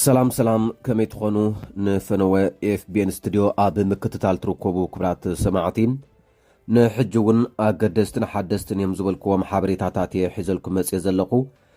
ሰላም ሰላም ከመይ ትኾኑ ንፈነወ ኤፍቤን ስትድዮ ኣብ ምክትታል ትርከቡ ክብራት ሰማዕቲ ንሕጂ እውን ኣገደስትን ሓደስትን እዮም ዝበልክዎም ሓበሬታታት እየ ሒዘልኩም መፅእ ዘለኹ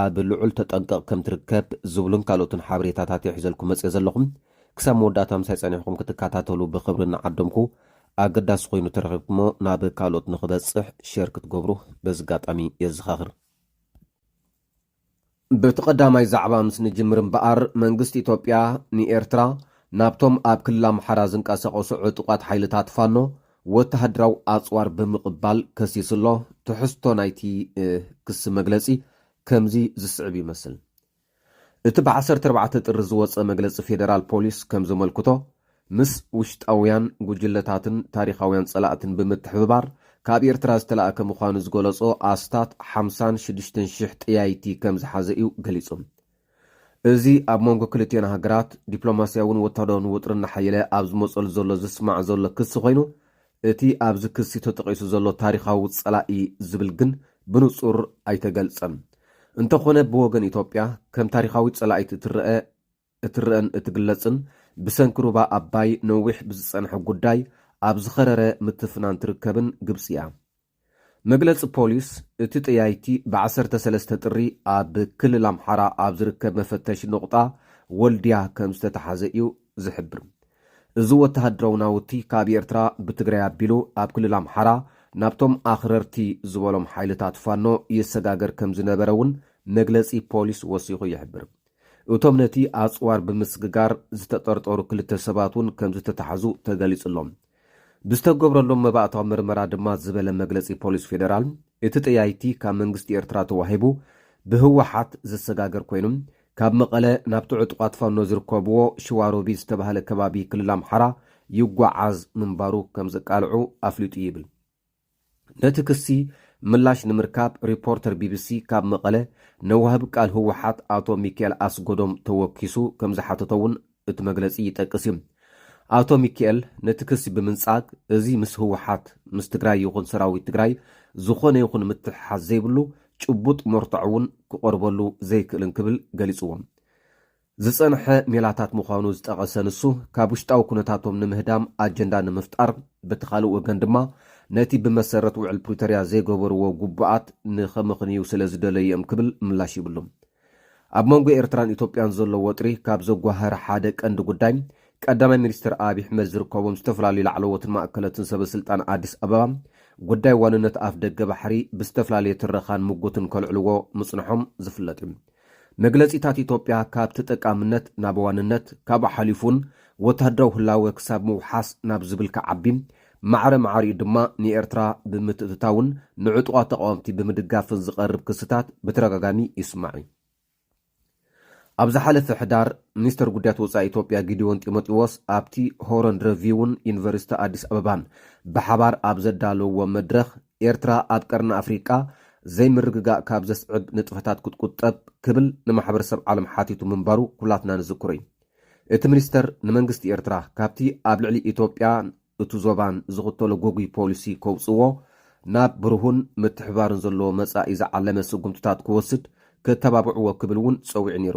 ኣብ ልዑል ተጠንቀቕ ከም ትርከብ ዝብሉን ካልኦትን ሓበሬታታት እየ ሒዘልኩም መጽየ ዘለኹ። ክሳብ መወዳእታ ምሳይ ጸኒሕኩም ክትከታተሉ ብኽብሪ እናዓደምኩ፣ ኣገዳሲ ኮይኑ ተረኺብኩሞ ናብ ካልኦት ንኽበጽሕ ሼር ክትገብሩ በዚ ኣጋጣሚ የዘኻኽር። በቲ ቀዳማይ ዛዕባ ምስ ንጅምር እምበኣር፣ መንግስቲ ኢትዮጵያ ንኤርትራ ናብቶም ኣብ ክልል ኣምሓራ ዝንቀሳቐሱ ዕጡቓት ሓይልታት ፋኖ ወተሃደራዊ ኣጽዋር ብምቕባል ከሲሱ ኣሎ። ትሕዝቶ ናይቲ ክሲ መግለጺ ከምዚ ዝስዕብ ይመስል። እቲ ብ ዓሰርተ ኣርባዕተ ጥሪ ዝወጸ መግለጺ ፌደራል ፖሊስ ከም ዘመልክቶ፣ ምስ ውሽጣውያን ጉጅለታትን ታሪኻውያን ጸላእትን ብምትሕብባር ካብ ኤርትራ ዝተላእከ ምዃኑ ዝገለጾ ኣስታት ሓምሳን ሽዱሽተን ሽሕ ጠያይቲ ከም ዝሓዘ እዩ ገሊጹ። እዚ ኣብ መንጎ ክልቲኤን ሃገራት ዲፕሎማስያውን ወታደራውን ውጥሪ እናሓየለ ኣብ ዝመጸሉ ዘሎ ዝስማዕ ዘሎ ክሲ ኮይኑ፣ እቲ ኣብዚ ክሲ ተጠቒሱ ዘሎ ታሪኻዊ ጸላኢ ዝብል ግን ብንጹር ኣይተገልጸን። እንተኾነ ብወገን ኢትዮጵያ ከም ታሪኻዊት ጸላኢት እትረኣ እትረኣን እትግለጽን ብሰንኪ ሩባ ኣባይ ነዊሕ ብዝጸንሐ ጉዳይ ኣብ ዝኸረረ ምትፍናን ትርከብን ግብጺ'ያ። መግለጺ ፖሊስ፣ እቲ ጠያይቲ ብ ዓሰርተ ሰለስተ ጥሪ ኣብ ክልል ኣምሓራ ኣብ ዝርከብ መፈተሺ ነቑጣ ወልድያ ከም ዝተታሕዘ እዩ ዝሕብር። እዚ ወተሃደራዊ ናውቲ ካብ ኤርትራ ብትግራይ ኣቢሉ ኣብ ክልል ኣምሓራ ናብቶም ኣኽረርቲ ዝበሎም ሓይልታት ፋኖ የሰጋገር ከም ዝነበረ እውን መግለጺ ፖሊስ ወሲኹ ይሕብር። እቶም ነቲ ኣጽዋር ብምስግጋር ዝተጠርጠሩ ክልተ ሰባት እውን ከምዝተታሕዙ ተገሊጹ'ሎ። ብዝተገብረሎም መባእታዊ ምርመራ ድማ ዝበለ መግለጺ ፖሊስ ፌደራል፣ እቲ ጠያይቲ ካብ መንግስቲ ኤርትራ ተዋሂቡ ብህወሓት ዝሰጋገር ኮይኑ፣ ካብ መቐለ ናብቲ ዕጡቓት ፋኖ ዝርከብዎ ሽዋሮቢት ዝተባህለ ከባቢ ክልል ኣምሓራ ይጓዓዝ ምንባሩ ከምዘቃልዑ ኣፍሊጡ ይብል። ነቲ ክሲ ምላሽ ንምርካብ ሪፖርተር ቢቢሲ ካብ መቐለ ንወሃቢ ቃል ህወሓት ኣቶ ሚኪኤል ኣስጎዶም ተወኪሱ ከምዝሓተቶ'ውን እቲ መግለጺ ይጠቅስ እዩ። ኣቶ ሚኪኤል ነቲ ክሲ ብምንጻግ እዚ ምስ ህወሓት፣ ምስ ትግራይ ይኹን ሰራዊት ትግራይ ዝኾነ ይኹን ምትሕሓዝ ዘይብሉ ጭቡጥ መርትዖ'ውን ክቐርበሉ ዘይክእልን ክብል ገሊጽዎ። ዝጸንሐ ሜላታት ምዃኑ ዝጠቐሰ ንሱ፣ ካብ ውሽጣዊ ኩነታቶም ንምህዳም ኣጀንዳ ንምፍጣር፣ በቲ ካልእ ወገን ድማ ነቲ ብመሰረት ውዕል ፕሪቶርያ ዘይገበርዎ ግቡኣት ንኸምኽንዩ ስለ ዝደለዩ'ዮም ክብል ምላሽ ይብሉ። ኣብ መንጎ ኤርትራን ኢትዮጵያን ዘሎ ወጥሪ ካብ ዘጓህር ሓደ ቀንዲ ጉዳይ፣ ቀዳማይ ሚኒስተር ኣብይ ኣሕመድ ዝርከቦም ዝተፈላለዩ ላዕለዎትን ማእከለትን ሰበስልጣን ኣዲስ ኣበባ፣ ጉዳይ ዋንነት ኣፍደገ ባሕሪ ብዝተፈላለየ ትረኻን ምጉትን ከልዕልዎ ምጽንሖም ዝፍለጥ'ዩ። መግለጺታት ኢትዮጵያ ካብ ተጠቃምነት ናብ ዋንነት ካብኡ ሓሊፉን ወተሃደራዊ ህላወ ክሳብ ምውሓስ ናብ ዝብል ክዓቢ ማዕረ ማዕሪኡ ድማ ንኤርትራ ብምትእትታውን ንዕጡቓት ተቓወምቲ ብምድጋፍን ዝቐርብ ክስታት ብተደጋጋሚ ይስማዕ እዩ። ኣብ ዝሓለፈ ሕዳር ሚኒስተር ጉዳያት ወጻኢ ኢትዮጵያ ጊዲዎን ጢሞጢዎስ ኣብቲ ሆሮን ረቪውን ዩኒቨርሲቲ ኣዲስ ኣበባን ብሓባር ኣብ ዘዳለውዎ መድረኽ ኤርትራ ኣብ ቀርኒ ኣፍሪቃ ዘይምርግጋእ ካብ ዘስዕብ ንጥፈታት ክትቁጠብ ክብል ንማሕበረሰብ ዓለም ሓቲቱ ምንባሩ ኩላትና ንዝክሮ እዩ። እቲ ሚኒስተር ንመንግስቲ ኤርትራ ካብቲ ኣብ ልዕሊ ኢትዮጵያን እቱ ዞባን ዝኽተሎ ጎጉይ ፖሊሲ ከውጽእዎ ናብ ብሩሁን ምትሕብባርን ዘለዎ መጻኢ ዝዓለመ ስጉምትታት ክወስድ ክተባብዕዎ ክብል እውን ጸዊዑ ነይሩ።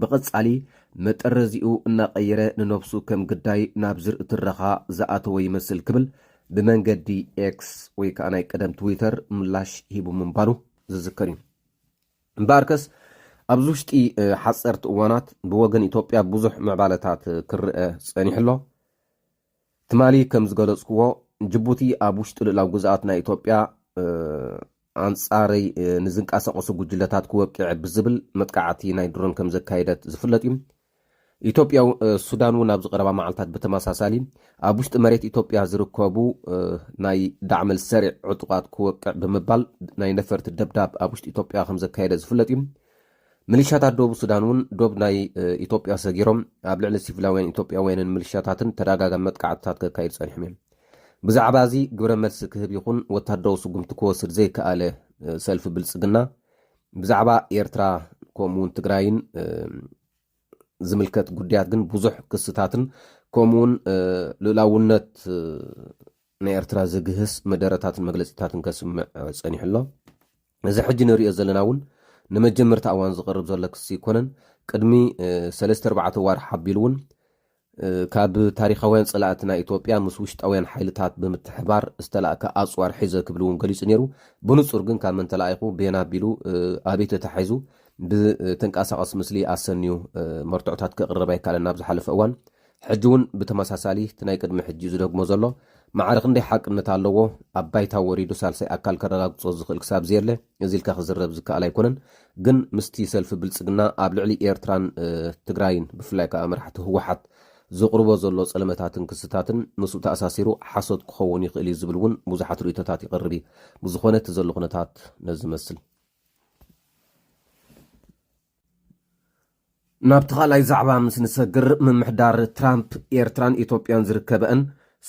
ብቐጻሊ መጠረዚኡ እናቐየረ ንነብሱ ከም ግዳይ ናብ ዝርኢ ትረኻ ዝኣተወ ይመስል ክብል ብመንገዲ ኤክስ ወይ ከኣ ናይ ቀደም ትዊተር ምላሽ ሂቡ ምንባሩ ዝዝከር እዩ። እምበኣርከስ ኣብዚ ውሽጢ ሓጸርቲ እዋናት ብወገን ኢትዮጵያ ብዙሕ ምዕባለታት ክርኣ ጸኒሑ ኣሎ። ትማሊ ከም ዝገለጽኩዎ ጅቡቲ ኣብ ውሽጢ ልኡላዊ ግዝኣት ናይ ኢትዮጵያ ኣንጻረይ ንዝንቀሳቐሱ ጉጅለታት ክወቅዕ ብዝብል መጥቃዕቲ ናይ ድሮን ከም ዘካየደት ዝፍለጥ እዩ። ኢትዮጵያ ሱዳን እውን ኣብዚ ቀረባ መዓልታት ብተመሳሳሊ ኣብ ውሽጢ መሬት ኢትዮጵያ ዝርከቡ ናይ ዳዕመል ሰሪዕ ዕጡቓት ክወቅዕ ብምባል ናይ ነፈርቲ ደብዳብ ኣብ ውሽጢ ኢትዮጵያ ከም ዘካየደ ዝፍለጥ እዩ። ምልሻታት ደቡብ ሱዳን እውን ዶብ ናይ ኢትዮጵያ ሰጊሮም ኣብ ልዕሊ ሲቪላውያን ኢትዮጵያውያንን ምልሻታትን ተደጋጋሚ መጥቃዕትታት ከካይዱ ጸኒሖም እዮም። ብዛዕባ እዚ ግብረ መልሲ ክህብ ይኹን ወታደራዊ ስጉምቲ ክወስድ ዘይከኣለ ሰልፊ ብልጽግና ብዛዕባ ኤርትራ ከምኡ እውን ትግራይን ዝምልከት ጉዳያት ግን ብዙሕ ክስታትን ከምኡውን ልእላውነት ንኤርትራ ዝግህስ መደረታትን መግለጺታትን ከስምዕ ጸኒሑ ኣሎ። እዚ ሕጂ ንርእዮ ዘለና እውን ንመጀመርታ እዋን ዝቐርብ ዘሎ ክሲ ኣይኮነን። ቅድሚ ሰለስተ ኣርባዕተ ኣዋርሕ ኣቢሉ እውን ካብ ታሪኻውያን ጸላእትና ኢትዮጵያ ምስ ውሽጣውያን ሓይልታት ብምትሕብባር ዝተላእከ ኣጽዋር ሒዘ ክብል እውን ገሊጹ ነይሩ። ብንጹር ግን ካብ መን ተላኢኹ፣ ቤን ኣቢሉ፣ ኣበይ ተታሒዙ ብተንቀሳቓሲ ምስሊ ኣሰንዩ መርትዖታት ከቕርብ ኣይከኣለን ኣብ ዝሓለፈ እዋን። ሕጂ ውን ብተመሳሳሊ እቲ ናይ ቅድሚ ሕጂ ዝደግሞ ዘሎ ማዕረ ክንደይ ሓቅነት ኣለዎ ኣብ ባይታ ወሪዱ ሳልሳይ ኣካል ከረጋግጾ ዝኽእል ክሳብ ዘየለ እዚ ኢልካ ክዝረብ ዝከኣል ኣይኮነን ግን ምስቲ ሰልፊ ብልጽግና ኣብ ልዕሊ ኤርትራን ትግራይን ብፍላይ ከኣ መራሕቲ ህወሓት ዘቕርቦ ዘሎ ጸለመታትን ክስታትን ምስኡ ተኣሳሲሩ ሓሶት ክኸውን ይኽእል እዩ ዝብል ውን ብዙሓት ርእይቶታት ይቐርብ እዩ ብዝኾነ እቲ ዘሎ ኩነታት ነዚ ይመስል። ናብቲ ካልኣይ ዛዕባ ምስ ንሰግር ምምሕዳር ትራምፕ ኤርትራን ኢትዮጵያን ዝርከበአን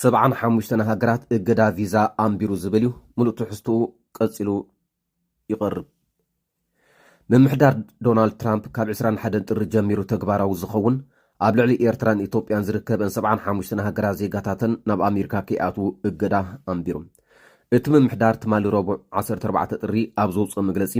ሰብዓን ሓሙሽተን ሃገራት እገዳ ቪዛ ኣንቢሩ ዝብል እዩ። ምሉእ ትሕዝትኡ ቀጺሉ ይቐርብ። ምምሕዳር ዶናልድ ትራምፕ ካብ 21 ጥሪ ጀሚሩ ተግባራዊ ዝኸውን ኣብ ልዕሊ ኤርትራን ኢትዮጵያን ዝርከበን ሰብዓን ሓሙሽተን ሃገራት ዜጋታተን ናብ ኣሜሪካ ከይኣትዉ እገዳ ኣንቢሩ። እቲ ምምሕዳር ትማሊ ረቡዕ 14 ጥሪ ኣብ ዘውፅኦ መግለፂ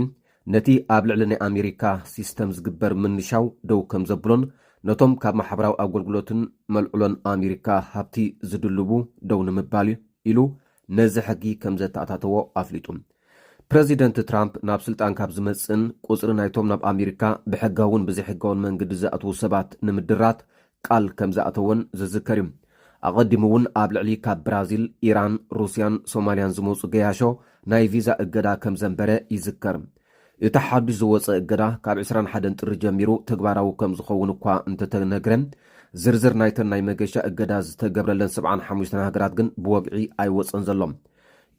ነቲ ኣብ ልዕሊ ናይ ኣሜሪካ ሲስተም ዝግበር ምንሻው ደው ከም ዘብሎን ነቶም ካብ ማሕበራዊ ኣጎልጉሎትን መልዕሎን ኣሜሪካ ሃብቲ ዝድልቡ ደው ንምባል ኢሉ ነዚ ሕጊ ከም ዘተኣታተዎ ኣፍሊጡ። ፕረዚደንት ትራምፕ ናብ ስልጣን ካብ ዝመጽእን ቁጽሪ ናይቶም ናብ ኣሜሪካ ብሕጋውን ብዘይሕጋውን መንግዲ ዝኣትዉ ሰባት ንምድራት ቃል ከም ዝኣተወን ዝዝከር እዩ። ኣቐዲሙ እውን ኣብ ልዕሊ ካብ ብራዚል፣ ኢራን፣ ሩስያን ሶማልያን ዝመጹ ገያሾ ናይ ቪዛ እገዳ ከም ዘንበረ ይዝከር። እቲ ሓዱሽ ዝወጸ እገዳ ካብ ዕስራን ሓደን ጥሪ ጀሚሩ ተግባራዊ ከም ዝኸውን እኳ እንተተነግረ፣ ዝርዝር ናይተን ናይ መገሻ እገዳ ዝተገብረለን ሰብዓን ሓሙሽተን ሃገራት ግን ብወግዒ ኣይወጸን ዘሎ።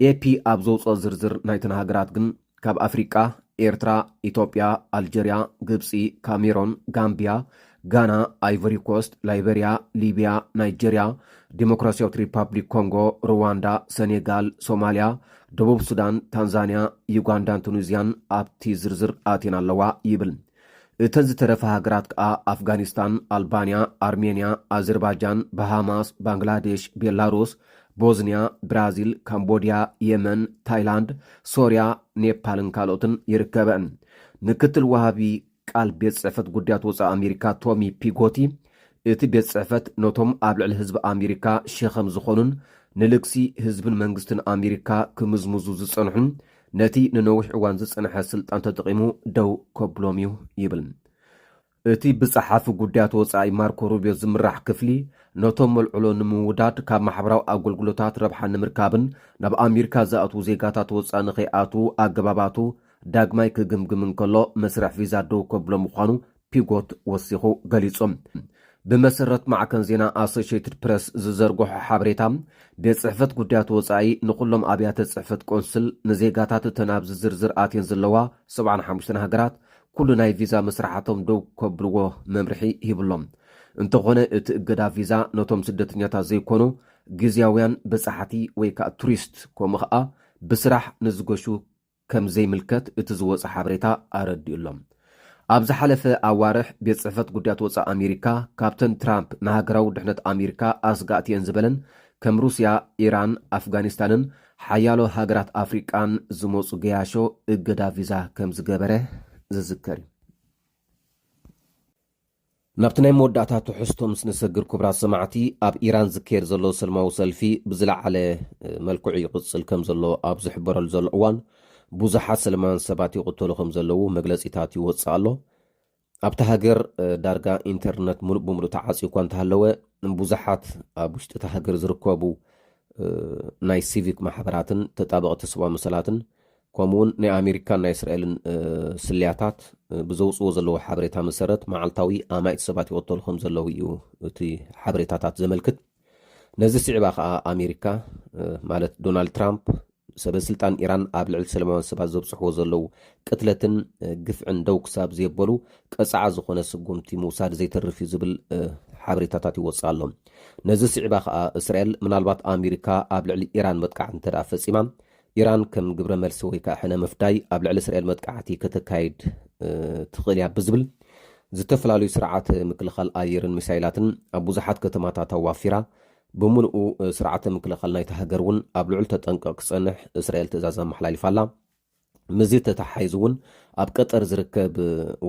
ኤፒ ኣብ ዘውጽኦ ዝርዝር ናይተን ሃገራት ግን፣ ካብ ኣፍሪቃ ኤርትራ፣ ኢትዮጵያ፣ ኣልጀርያ፣ ግብጺ፣ ካሜሮን፣ ጋምብያ፣ ጋና፣ ኣይቮሪኮስት፣ ላይበርያ፣ ሊብያ፣ ናይጀርያ፣ ዲሞክራስያዊት ሪፓብሊክ ኮንጎ፣ ሩዋንዳ፣ ሰኔጋል፣ ሶማልያ፣ ደቡብ ሱዳን፣ ታንዛንያ፣ ዩጋንዳን ቱኒዝያን ኣብቲ ዝርዝር ኣትየን ኣለዋ ይብል። እተን ዝተረፋ ሃገራት ከኣ ኣፍጋኒስታን፣ ኣልባንያ፣ ኣርሜንያ፣ ኣዘርባጃን፣ ባሃማስ፣ ባንግላዴሽ፣ ቤላሩስ፣ ቦዝንያ፣ ብራዚል፣ ካምቦድያ፣ የመን፣ ታይላንድ፣ ሶርያ፣ ኔፓልን ካልኦትን ይርከበእን። ምክትል ወሃቢ ቃል ቤት ጽሕፈት ጉዳያት ወጻኢ ኣሜሪካ ቶሚ ፒጎቲ እቲ ቤት ጽሕፈት ነቶም ኣብ ልዕሊ ህዝቢ ኣሜሪካ ሸኸም ዝኾኑን ንልግሲ ህዝብን መንግስትን ኣሜሪካ ክምዝምዙ ዝጸንሑን ነቲ ንነዊሕ እዋን ዝጸንሐ ስልጣን ተጠቒሙ ደው ከብሎም'ዩ ይብል። እቲ ብጸሓፊ ጉዳያት ወጻኢ ማርኮ ሩብዮ ዝምራሕ ክፍሊ፣ ነቶም መልዕሎ ንምውዳድ፣ ካብ ማሕበራዊ ኣገልግሎታት ረብሓ ንምርካብን ናብ ኣሜሪካ ዝኣትዉ ዜጋታት ወጻኢ ንኸይኣትዉ ኣገባባቱ ዳግማይ ክግምግም እንከሎ፣ መስርሕ ቪዛ ደው ከብሎ ምዃኑ ፒጎት ወሲኹ ገሊጹ። ብመሰረት ማዕከን ዜና ኣሶሸይትድ ፕረስ ዝዘርግሖ ሓበሬታ፣ ቤት ጽሕፈት ጉዳያት ወጻኢ ንኹሎም ኣብያተ ጽሕፈት ቆንስል፣ ንዜጋታት እተን ኣብዚ ዝርዝር ኣትየን ዘለዋ ሰብዓን ሓሙሽተን ሃገራት ኩሉ ናይ ቪዛ መስርሓቶም ደው ከብልዎ መምርሒ ሂቡ'ሎ። እንተኾነ እቲ እገዳ ቪዛ ነቶም ስደተኛታት ዘይኮኑ ግዝያውያን በጻሕቲ ወይ ከኣ ቱሪስት ከምኡ ከኣ ብስራሕ ንዝገሹ ከም ዘይምልከት እቲ ዝወጸ ሓበሬታ ኣረዲኡ ኣሎ። ኣብ ዝሓለፈ ኣዋርሕ ቤት ጽሕፈት ጉዳያት ወጻኢ ኣሜሪካ ካብተን ትራምፕ ንሃገራዊ ድሕነት ኣሜሪካ ኣስጋእቲ'የን ዝበለን ከም ሩስያ፣ ኢራን፣ ኣፍጋኒስታንን ሓያሎ ሃገራት ኣፍሪቃን ዝመጹ ገያሾ እገዳ ቪዛ ከም ዝገበረ ዝዝከር እዩ። ናብቲ ናይ መወዳእታ ትሕዝቶ ምስ ንሰግር ኩብራት ሰማዕቲ ኣብ ኢራን ዝከየድ ዘሎ ሰልማዊ ሰልፊ ብዝለዓለ መልክዑ ይቕጽል ከም ዘሎ ኣብ ዝሕበረሉ ዘሎ እዋን ብዙሓት ሰለማውያን ሰባት ይቕተሉ ከም ዘለዉ መግለጺታት ይወጽእ ኣሎ። ኣብታ ሃገር ዳርጋ ኢንተርነት ሙሉእ ብምሉእ ተዓጽዩ እኳ እንተሃለወ ብዙሓት ኣብ ውሽጢ እታ ሃገር ዝርከቡ ናይ ሲቪክ ማሕበራትን ተጣበቕቲ ሰብኣዊ መሰላትን ከምኡ ውን ናይ ኣሜሪካን ናይ እስራኤልን ስልያታት ብዘውፅዎ ዘለዎ ሓበሬታ መሰረት መዓልታዊ ኣማኢት ሰባት ይቕተሉ ከም ዘለዉ እዩ እቲ ሓበሬታታት ዘመልክት። ነዚ ስዒባ ከኣ ኣሜሪካ ማለት ዶናልድ ትራምፕ ሰበ ስልጣን ኢራን ኣብ ልዕሊ ሰለማውያን ሰባት ዘብፅሕዎ ዘለዉ ቅትለትን ግፍዕን ደው ክሳብ ዘየበሉ ቀፅዓ ዝኾነ ስጉምቲ ምውሳድ ዘይተርፍ እዩ ዝብል ሓበሬታታት ይወፅእ ኣሎ። ነዚ ስዒባ ከኣ እስራኤል ምናልባት ኣሜሪካ ኣብ ልዕሊ ኢራን መጥቃዕቲ እንተድኣ ፈፂማ ኢራን ከም ግብረ መልሲ ወይ ከኣ ሕነ ምፍዳይ ኣብ ልዕሊ እስራኤል መጥቃዕቲ ከተካይድ ትኽእል እያ ብዝብል ዝተፈላለዩ ስርዓተ ምክልኻል ኣየርን ሚሳይላትን ኣብ ብዙሓት ከተማታት ኣዋፊራ፣ ብምሉኡ ስርዓተ ምክልኻል ናይታ ሃገር እውን ኣብ ልዑል ተጠንቀቕ ክጸንሕ እስራኤል ትእዛዝ ኣመሓላሊፋ ኣላ። ምስዚ ተተሓሒዙ እውን ኣብ ቀጠር ዝርከብ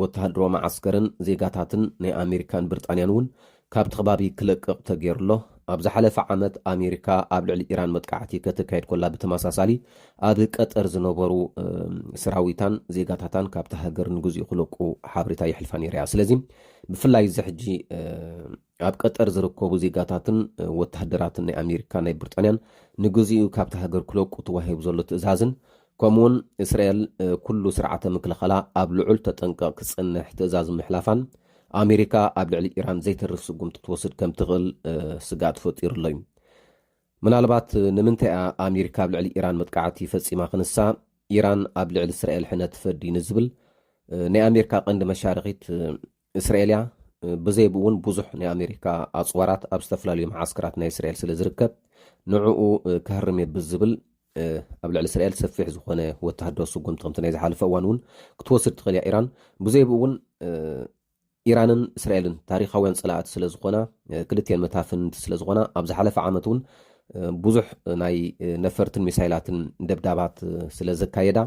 ወተሃደራዊ መዓስከርን ዜጋታትን ናይ ኣሜሪካን ብርጣንያን እውን ካብቲ ከባቢ ክለቅቕ ተገይሩ'ሎ። ኣብ ዝሓለፈ ዓመት ኣሜሪካ ኣብ ልዕሊ ኢራን መጥቃዕቲ ከተካይድ ኮላ ብተመሳሳሊ ኣብ ቀጠር ዝነበሩ ሰራዊታን ዜጋታታን ካብታ ሃገር ንግዚኡ ክለቁ ሓበሬታ የሕልፋ ነይራ'ያ። ስለዚ ብፍላይ እዚ ሕጂ ኣብ ቀጠር ዝርከቡ ዜጋታትን ወተሃደራትን ናይ ኣሜሪካን ናይ ብርጣንያን ንግዚኡ ካብታ ሃገር ክለቁ ተዋሂቡ ዘሎ ትእዛዝን ከምኡ'ውን እስራኤል ኩሉ ስርዓተ ምክልኻላ ኣብ ልዑል ተጠንቀቕ ክጸንሕ ትእዛዝ ምሕላፋን፣ ኣሜሪካ ኣብ ልዕሊ ኢራን ዘይተርፍ ስጉምቲ ትወስድ ከም ትኽእል ስግኣት ፈጢሩ'ሎ'ዩ። ምናልባት ንምንታይ'ያ ኣሜሪካ ኣብ ልዕሊ ኢራን መጥቃዕቲ ፈጺማ ክንሳ ኢራን ኣብ ልዕሊ እስራኤል ሕነ ትፈዲ ንዝብል ናይ ኣሜሪካ ቀንዲ መሻርኺት እስራኤልያ ብዘይብኡውን ብዙሕ ናይ ኣሜሪካ ኣፅዋራት ኣብ ዝተፈላለዩ መዓስከራት ናይ እስራኤል ስለ ዝርከብ ንዕኡ ከህርም እየ ብዝብል ኣብ ልዕሊ እስራኤል ሰፊሕ ዝኾነ ወተሃደራዊ ስጉምቲ ከምቲ ናይ ዝሓለፈ እዋን እውን ክትወስድ ትኽእል እያ ኢራን ብዘይብኡ እውን ኢራንን እስራኤልን ታሪካውያን ፀላእቲ ስለ ዝኾና ክልትኤን መታፍንቲ ስለ ዝኾና ኣብ ዝሓለፈ ዓመት እውን ብዙሕ ናይ ነፈርትን ሚሳይላትን ደብዳባት ስለ ዘካየዳ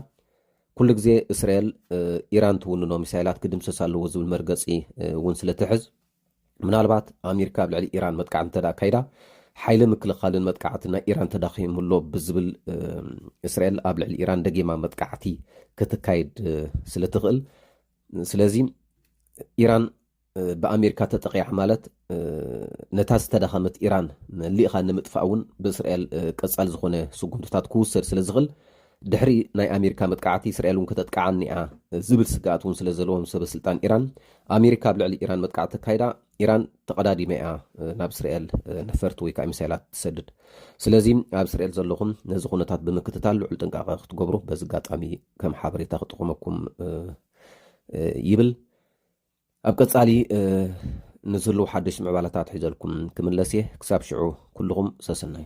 ኩሉ ግዜ እስራኤል ኢራን ትውንኖ ሚሳይላት ክድምሰስ ኣለዎ ዝብል መርገፂ እውን ስለትሕዝ ምናልባት ኣሜሪካ ኣብ ልዕሊ ኢራን መጥቃዕቲ እንተ ኣካይዳ ሓይሊ ምክልኻልን መጥቃዕቲ ናይ ኢራን ተዳኺሙ ኣሎ ብዝብል እስራኤል ኣብ ልዕሊ ኢራን ደጊማ መጥቃዕቲ ክትካይድ ስለትኽእል ስለዚ ኢራን ብኣሜሪካ ተጠቒዓ ማለት ነታ ዝተዳኸመት ኢራን መሊእኻ ንምጥፋእ እውን ብእስራኤል ቀጻሊ ዝኾነ ስጉምትታት ክውሰድ ስለ ዝኽል ድሕሪ ናይ ኣሜሪካ መጥቃዕቲ እስራኤል እውን ከተጥቅዓኒ እያ ዝብል ስግኣት እውን ስለ ዘለዎም ሰበ ስልጣን ኢራን ኣሜሪካ ኣብ ልዕሊ ኢራን መጥቃዕቲ ተካይዳ ኢራን ተቐዳዲመ እያ ናብ እስራኤል ነፈርቲ ወይ ከዓ ሚሳይላት ትሰድድ ስለዚ ኣብ እስራኤል ዘለኹም ነዚ ኩነታት ብምክትታል ልዑል ጥንቃቐ ክትገብሩ በዚ ኣጋጣሚ ከም ሓበሬታ ክጥቕመኩም ይብል ኣብ ቀጻሊ ንዝህልው ሓደሽ ምዕባለታት ሒዘልኩም ክምለስ እየ ክሳብ ሽዑ ኩሉኹም ሰስናዩ።